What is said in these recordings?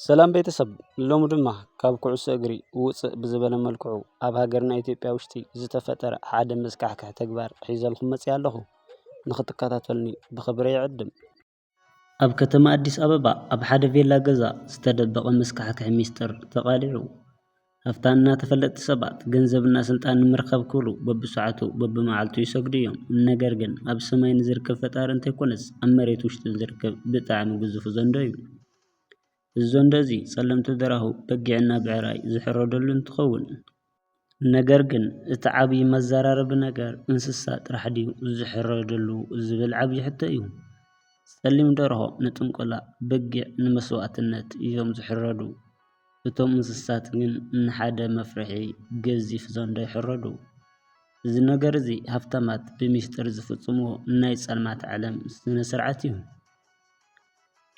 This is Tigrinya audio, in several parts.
ሰላም ቤተሰብ ሎሚ ድማ ካብ ኩዕሶ እግሪ ውፅእ ብዝበለ መልክዑ ኣብ ሃገርና ኢትዮጵያ ውሽጢ ዝተፈጠረ ሓደ መስካሕክሕ ተግባር ሒዘልኩም መፂኣ ኣለኹ ንክትከታተሉኒ ብክብሪ ይዕድም። ኣብ ከተማ ኣዲስ ኣበባ ኣብ ሓደ ቬላ ገዛ ዝተደበቐ መስካሕክሒ ሚስጥር ተቓሊዑ። ሃፍታምና ተፈለጥቲ ሰባት ገንዘብና ስልጣን ንምርካብ ክብሉ በብሰዓቱ በብመዓልቱ ይሰግዱ እዮም ነገር ግን ኣብ ሰማይ ንዝርከብ ፈጣሪ እንተይኮነስ ኣብ መሬት ውሽጢ ንዝርከብ ብጣዕሚ ግዙፉ ዘንዶ እዩ እዚ ዘንዶ እዚ ጸለምቲ ደራሁ በጊዕና ብዕራይ ዝሕረደሉ እንትኸውን ነገር ግን እቲ ዓብይ መዘራረቢ ነገር እንስሳ ጥራሕ ድዩ ዝሕረደሉ ዝብል ዓብይ ሕቶ እዩ ጸሊም ደርሆ ንጥንቆላ በጊዕ ንመስዋእትነት እዮም ዝሕረዱ እቶም እንስሳት ግን ንሓደ መፍርሒ ገዚፍ ዘንዶ ይሕረዱ። እዚ ነገር እዚ ሃብታማት ብሚስጥር ዝፍጽምዎ ናይ ጸልማት ዓለም ስነ ስርዓት እዩ።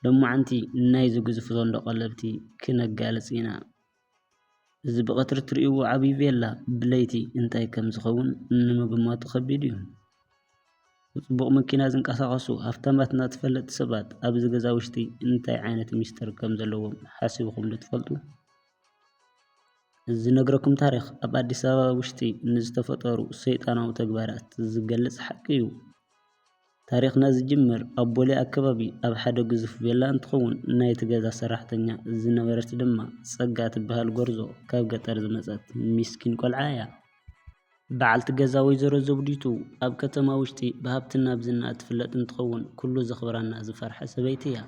ሎማዓንቲ ናይዚ ግዙፍ ዘንዶ ቀለብቲ ክነጋልጽ ኢና። እዚ ብቐትሪ እትርእይዎ ዓቢ ቬላ ብለይቲ እንታይ ከም ዝኸውን ንምግማቱ ከቢድ እዩ። ብጽቡቕ መኪና ዝንቀሳቐሱ ሃፍታማትና ተፈለጥቲ ሰባት ኣብዚ ገዛ ውሽጢ እንታይ ዓይነት ሚስጥር ከም ዘለዎም ሓሲብኩም ዶ ትፈልጡ? እዚ ዝነግረኩም ታሪኽ ኣብ ኣዲስ ኣበባ ውሽጢ ንዝተፈጠሩ ሰይጣናዊ ተግባራት ዝገልጽ ሓቂ እዩ። ታሪኽና ዝጅምር ኣብ ቦሌ ኣከባቢ ኣብ ሓደ ግዙፍ ቬላ እንትኸውን ናይቲ ገዛ ሰራሕተኛ ዝነበረት ድማ ጸጋ ትበሃል ጎርዞ ካብ ገጠር ዝመጸት ሚስኪን ቆልዓ እያ። በዓልቲ ገዛ ወይዘሮ ዘውዲቱ ኣብ ከተማ ውሽጢ ብሃብትን ናብ ዝና እትፍለጥ እንትኸውን ኩሉ ዘኽብራና ዝፈርሐ ሰበይቲ እያ።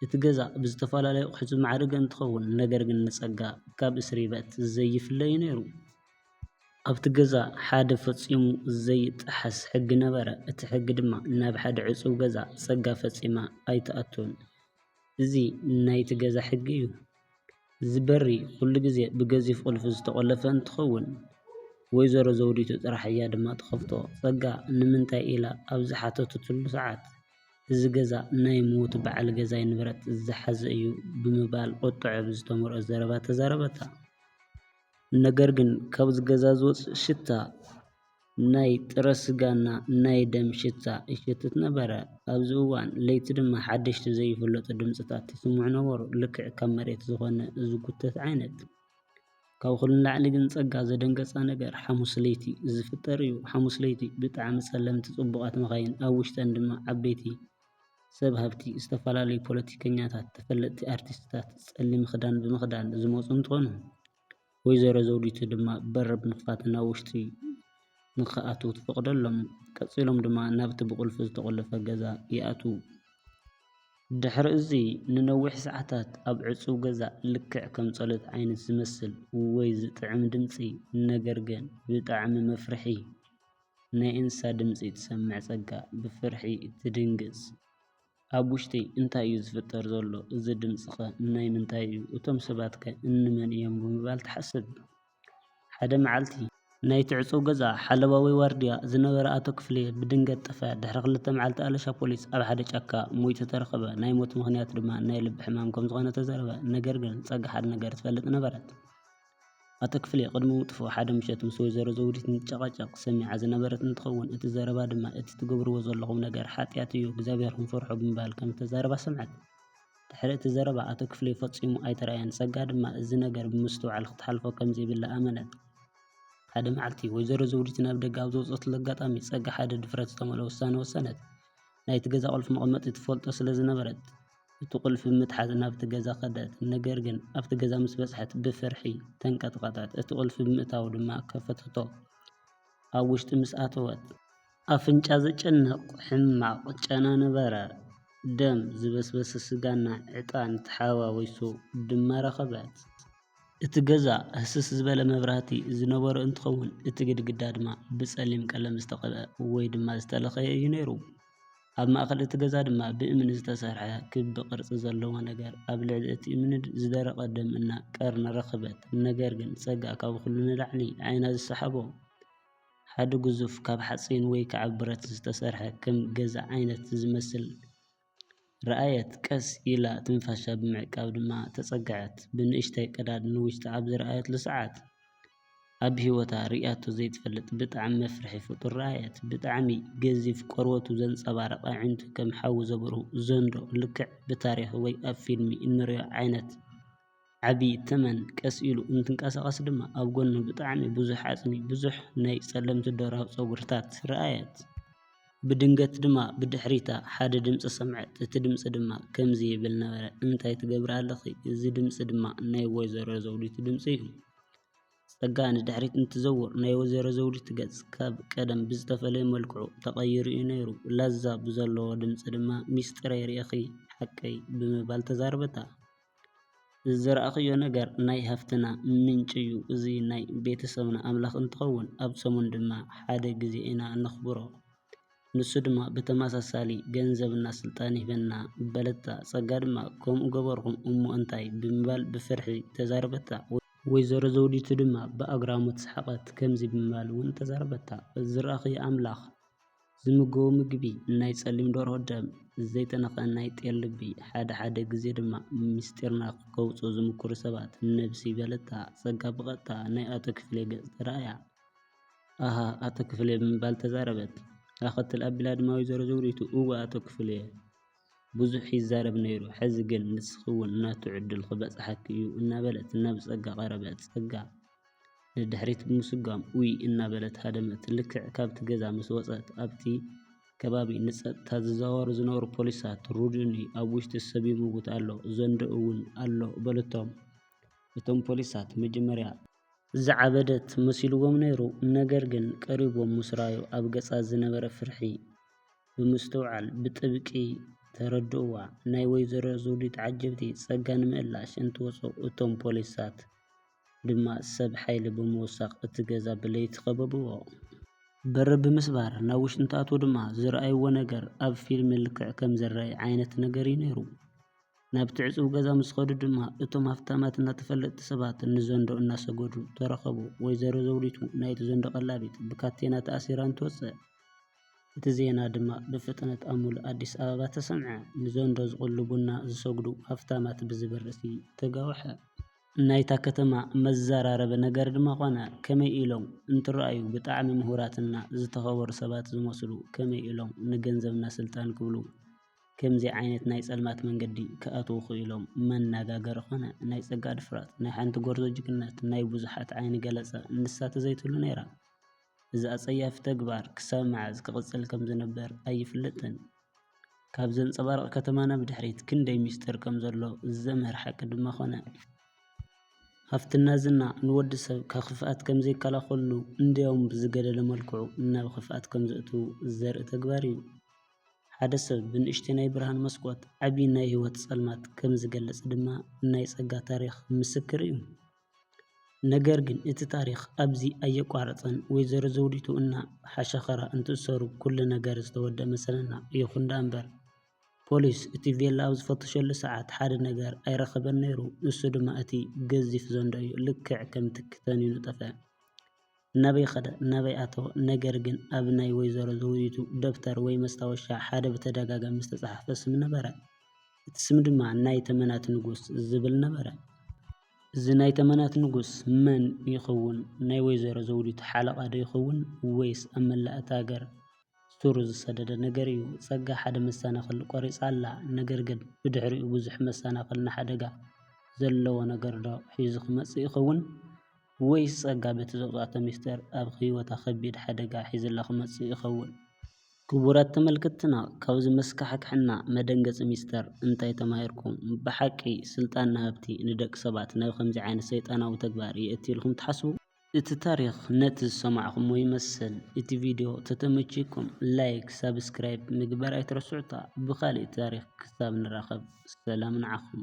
እቲ ገዛ ብዝተፈላለዩ ኣቑሑት ዝማዕረገ እንትኸውን ነገር ግን ንፀጋ ካብ እስሪበት ዘይፍለ እዩ ነይሩ። ኣብቲ ገዛ ሓደ ፈፂሙ ዘይጠሓስ ሕጊ ነበረ። እቲ ሕጊ ድማ ናብ ሓደ ዕፁው ገዛ ፀጋ ፈፂማ ኣይትኣቱን እዚ ናይቲ ገዛ ሕጊ እዩ። እዚ በሪ ኩሉ ግዜ ብገዚፍ ቁልፊ ዝተቖለፈ እንትኸውን ወይዘሮ ዘውዲቱ ጥራሕ እያ ድማ ትኸፍቶ። ፀጋ ንምንታይ ኢላ ኣብ ዝሓተተትሉ ሰዓት እዚ ገዛ ናይ ሙዉት በዓል ገዛይ ንብረት ዝሓዘ እዩ ብምባል ቁጥዐ ብዝተመልኦ ዘረባ ተዛረበታ። ነገር ግን ካብዚ ገዛ ዝወፅእ ሽታ። ናይ ጥረ ስጋና ናይ ደም ሽታ ይሸትት ነበረ። ኣብዚ እዋን ለይቲ ድማ ሓደሽቲ ዘይፍለጡ ድምጽታት ይስምዑ ነበሩ፣ ልክዕ ካብ መሬት ዝኾነ ዝጉተት ዓይነት። ካብ ኹሉ ንላዕሊ ግን ጸጋ ዘደንገጻ ነገር ሓሙስ ለይቲ ዝፍጠር እዩ። ሓሙስ ለይቲ ብጣዕሚ ጸለምቲ ጽቡቓት መኻይን ኣብ ውሽጠን ድማ ዓበይቲ ሰብ ሃብቲ፣ ዝተፈላለዩ ፖለቲከኛታት፣ ተፈለጥቲ ኣርቲስትታት ጸሊም ኽዳን ብምኽዳን ዝመጹ እንትኾኑ፣ ወይዘሮ ዘውዲቱ ድማ በር ብምኽፋት ናብ ውሽጢ ንክኣትዉ ትፈቕደሎም። ቀጺሎም ድማ ናብቲ ብቑልፊ ዝተቖለፈ ገዛ ይኣትዉ። ድሕሪ እዚ ንነዊሕ ሰዓታት ኣብ ዕጹው ገዛ ልክዕ ከም ጸሎት ዓይነት ዝመስል ወይ ዝጥዕም ድምጺ ነገር ግን ብጣዕሚ መፍርሒ ናይ እንስሳ ድምጺ ትሰምዕ ጸጋ ብፍርሒ ትድንግጽ። ኣብ ውሽጢይ እንታይ እዩ ዝፍጠር ዘሎ? እዚ ድምጽኸ ናይ ምንታይ እዩ? እቶም ሰባትከ እንመን እዮም? ብምባል ትሓስብ። ሓደ መዓልቲ። ናይቲ ዕጹው ገዛ ሓለዋ ወይ ዋርድያ ዝነበረ ኣቶ ክፍሌ ብድንገት ጠፍኣ። ድሕሪ ክልተ መዓልቲ ኣለሻ ፖሊስ ኣብ ሓደ ጫካ ሞይቱ ተረኸበ። ናይ ሞቱ ምኽንያት ድማ ናይ ልቢ ሕማም ከም ዝኾነ ተዛረበ። ነገር ግን ጸጋ ሓደ ነገር ትፈልጥ ነበረት። ኣቶ ክፍሌ ቅድሚ ምጥፍኡ ሓደ ምሸት ምስ ወይዘሮ ዘውዲት እንትጨቓጨቕ ሰሚዓ ዝነበረት እንትኸውን እቲ ዘረባ ድማ እቲ ትገብርዎ ዘለኹም ነገር ሓጥያት እዩ እግዚኣብሔርኹም ፍርሑ ብምባል ከምዝተዛረባ ሰምዐት። ድሕሪ እቲ ዘረባ ኣቶ ክፍሌ ፈፂሙ ኣይተርኣየን ፀጋ ድማ እዚ ነገር ብምስትውዓል ክትሓልፎ ከምዘይብላ ኣመነት። ሓደ መዓልቲ ወይዘሮ ዘውዲት ናብ ደገ ኣብ ዝወፀትሉ ኣጋጣሚ ፀጋ ሓደ ድፍረት ዝተመልኦ ውሳነ ወሰነት። ናይቲ ገዛ ቁልፊ መቐመጢ ትፈልጦ ስለዝነበረት። እቲ ቁልፊ ብምትሓዝ ናብቲ ገዛ ከደት፣ ነገር ግን ኣብቲ ገዛ ምስ በጽሐት ብፍርሒ ተንቀጥቀጠት፣ እቲ ቁልፊ ብምእታዉ ድማ ከፈተቶ፣ ኣብ ውሽጢ ምስ ኣተወት። ኣፍንጫ ዘጨንቕ ሕማቕ ጨና ነበረ፣ ደም፣ ዝበስበሰ ስጋና ዕጣን ተሓዋዊሱ ድማ ረኸበት። እቲ ገዛ ህስስ ዝበለ መብራህቲ ዝነበሮ እንትኸውን፣ እቲ ግድግዳ ድማ ብጸሊም ቀለም ዝተቐብኣ ወይ ድማ ዝተለኸየ እዩ ነይሩ። ኣብ ማእከል እቲ ገዛ ድማ ብእምኒ ዝተሰርሐ ክቢ ቅርጺ ዘለዎ ነገር ኣብ ልዕሊ እቲ እምኒ ዝደረቐ ደም እና ቀርኒ ረኽበት ነገር ግን ጸጋ ካብ ኩሉ ንላዕሊ ዓይና ዝሰሓቦ ሓደ ግዙፍ ካብ ሓጺን ወይ ከኣ ብረት ዝተሰርሐ ከም ገዛ ዓይነት ዝመስል ረኣየት፣ ቀስ ኢላ ትንፋሻ ብምዕቃብ ድማ ተጸግዐት፣ ብንእሽተይ ቀዳድ ንውሽጣ ኣብ ዝረኣየትሉ ሰዓት ኣብ ሂወታ ርእያቶ ዘይትፈልጥ ብጣዕሚ መፍርሒ ፍጡር ረኣየት፣ ብጣዕሚ ገዚፍ ቆርበቱ ዘንጸባርቕ ኣዒንቱ ከም ሓዊ ዘብርሁ ዘንዶ ልክዕ ብታሪኽ ወይ ኣብ ፊልሚ እንርእዮ ዓይነት ዓቢ ተመን ቀስ ኢሉ እንትንቀሳቐስ ድማ ኣብ ጎኑ ብጣዕሚ ብዙሕ ዓጽሚ፣ ብዙሕ ናይ ጸለምቲ ደራሁ ጸጉርታት ረኣየት። ብድንገት ድማ ብድሕሪታ ሓደ ድምጺ ሰምዐት፣ እቲ ድምጺ ድማ ከምዚ ይብል ነበረ፣ እንታይ ትገብሪ ኣለኺ? እዚ ድምጺ ድማ ናይ ወይዘሮ ዘውዲቱ ድምጺ እዩ። ጸጋ ንድሕሪት እንትትዘውር ናይ ወይዘሮ ዘውዲቱ ገጽ ካብ ቀደም ብዝተፈለየ መልክዑ ተቐይሩ እዩ ነይሩ። ላዛ ብዘለዎ ድምጺ ድማ ሚስጢረይ ርኢኺ ሓቀይ? ብምባል ተዛረበታ። ዝዘራእክዮ ነገር ናይ ሃፍትና ምንጪ እዩ እዚ ናይ ቤተሰብና ኣምላክ እንትከውን ኣብ ሰሙን ድማ ሓደ ግዜ ኢና እነክብሮ ንሱ ድማ ብተመሳሳሊ ገንዘብ እና ስልጣን ይህበና በለታ ጸጋ ድማ ከምኡ ገበርኩ እሞ እንታይ ብምባል ብፍርሒ ተዛረበታ ወይዘሮ ዘውዲቱ ድማ ብኣግራሞት ሰሓቀት ከምዚ ብምባል ውን ተዛረበታ ዝራኣክዮ ኣምላክ ዝምገቡ ምግቢ፣ ናይ ጸሊም ደርሆ ደም፣ ዘይተነኽኣ ናይ ጤል ልቢ፣ ሓደ ሓደ ግዜ ድማ ምስጢርና ከውጽኡ ዝምኩሩ ሰባት፣ ነብሲ በለታ ጸጋ ብቐጥታ ናይ ኣቶ ክፍሌ ገጽ ተራእያ። ኣሃ ኣቶ ክፍሌ ብምባል ተዛረበት። ኣኸትል ኣቢላ ድማ ወይዘሮ ዘውዲቱ እወ ኣቶ ክፍሌ! ብዙሕ ይዛረብ ነይሩ ሐዚ ግን ንስኺ ውን ናቱ ዕድል ክበፅሓኪ እዩ እናበለት ናብ ፀጋ ቀረበት ፀጋ ንድሕሪት ብምስጓም ኡይ እናበለት ሃደመት ልክዕ ካብቲ ገዛ ምስ ወፀት ኣብቲ ከባቢ ንፀጥታ ዝዛወሩ ዝነበሩ ፖሊሳት ሩድኒ ኣብ ውሽጢ ሰብ ይምውት ኣሎ ዘንድኡ ውን ኣሎ በልቶም እቶም ፖሊሳት መጀመርያ ዝዓበደት መሲልዎም ነይሩ ነገር ግን ቀሪቦም ምስ ራኣዩ ኣብ ገፃ ዝነበረ ፍርሒ። ብምስትውዓል ብጥብቂ ተረድኡዋ። ናይ ወይዘሮ ዘውዲት ዓጀብቲ ጸጋ ንምእላሽ እንትወጹ እቶም ፖሊሳት ድማ ሰብ ሓይሊ ብምውሳኽ እቲ ገዛ ብለይቲ ከበቡዎ። በሪ ብምስባር ናብ ውሽጢ እንትኣትዉ ድማ ዝረኣዩዎ ነገር ኣብ ፊልሚ ልክዕ ከም ዝረኣይ ዓይነት ነገር እዩ ነይሩ። ናብቲ ዕጽው ገዛ ምስ ከዱ ድማ እቶም ሃፍታማት እና ተፈለጥቲ ሰባት ንዘንዶ እናሰገዱ ተረኸቡ። ወይዘሮ ዘውዲቱ ናይቲ ዘንዶ ቀላቢት ብካቴና ተኣሲራ እንትወጽእ እቲ ዜና ድማ ብፍጥነት ኣብ ሙሉእ ኣዲስ ኣበባ ተሰምዐ። ንዘንዶ ዝቕሉ ቡና ዝሰግዱ ሃፍታማት ብዝብል ርእሲ ተጋውሐ። ናይታ ከተማ መዘራረቢ ነገር ድማ ኮነ። ከመይ ኢሎም እንትረኣዩ ብጣዕሚ ምሁራትና ዝተኸበሩ ሰባት ዝመስሉ ከመይ ኢሎም ንገንዘብና ስልጣን ክብሉ ከምዚ ዓይነት ናይ ፀልማት መንገዲ ክኣትዉ ክኢሎም መናጋገሪ ኮነ። ናይ ፀጋ ድፍረት፣ ናይ ሓንቲ ጎርዞ ጅግንነት፣ ናይ ብዙሓት ዓይኒ ገለፀ ንሳ ተዘይትህሉ ነይራ። እዚ ኣጸያፊ ተግባር ክሳብ መዓዝ ክቕጽል ከም ዝነበር ኣይፍለጥን። ካብ ዘንጸባርቕ ከተማና ብድሕሪት ክንደይ ምስጢር ከም ዘሎ ዘምህር ሓቂ ድማ ኮነ። ሃፍትና ዝና ንወዲ ሰብ ካብ ክፍኣት ከም ዘይከላኸሉ እንድያውም ብዝገደደ መልክዑ ናብ ክፍኣት ከም ዘእትዉ ዘርኢ ተግባር እዩ። ሓደ ሰብ ብንእሽተይ ናይ ብርሃን መስኮት ዓቢ ናይ ህይወት ጸልማት ከም ዝገልጽ ድማ ናይ ጸጋ ታሪኽ ምስክር እዩ። ነገር ግን እቲ ታሪኽ ኣብዚ ኣየቋረጸን ወይዘሮ ዘውዲቱ እና ሓሸኸራ እንትእሰሩ ኩሉ ነገር ዝተወደኣ መሰለና ይኹን ደኣምበር ፖሊስ እቲ ቬላ ኣብ ዝፈተሸሉ ሰዓት ሓደ ነገር ኣይረኸበን ነይሩ ንሱ ድማ እቲ ገዚፍ ዘንዶ እዩ ልክዕ ከምቲ ክተንዩ ዝጠፈኣ ናበይ ኸደ ናበይ ኣተወ ነገር ግን ኣብ ናይ ወይዘሮ ዘውዲቱ ደብተር ወይ መስታወሻ ሓደ ብተደጋጋሚ ዝተጻሕፈ ስም ነበረ። እቲ ስም ድማ ናይ ተመናት ንጉስ ዝብል ነበረ። እዚ ናይ ተመናት ንጉስ መን ይኸውን? ናይ ወይዘሮ ዘውዲቱ ሓለቓ ዶ ይኸውን? ወይስ ኣብ መላእ እታ ሃገር ሱሩ ዝሰደደ ነገር እዩ? ጸጋ ሓደ መሰናኽል ቆሪጻ ኣላ። ነገር ግን ብድሕሪኡ ብዙሕ መሰናኽል ንሓደጋ ዘለዎ ነገር ዶ ሒዙ ክመጽእ ይኸውን? ወይስ ጸጋ በቲ ዘውጽኣቶ ምስጢር ኣብ ህይወታ ከቢድ ሓደጋ ሒዙላ ክመጽእ ይኸውን? ክቡራት ተመልከትትና ካብ እዚ መስካሕክሕና መደንገጺ ምስጢር እንታይ ተማሂርኩም? ብሓቂ ስልጣን ንሃብቲ ንደቂ ሰባት ናብ ከምዚ ዓይነት ሰይጣናዊ ተግባር የእቲ ኢልኩም ትሓስቡ? እቲ ታሪኽ ነቲ ዝሰማዕኩሞ ይመስል። እቲ ቪድዮ ተተመቺኩም ላይክ ሳብስክራይብ ምግባር ኣይትረስዑታ ብኻሊእ ታሪኽ ክሳብ ንራኸብ ሰላም ንዓኹም።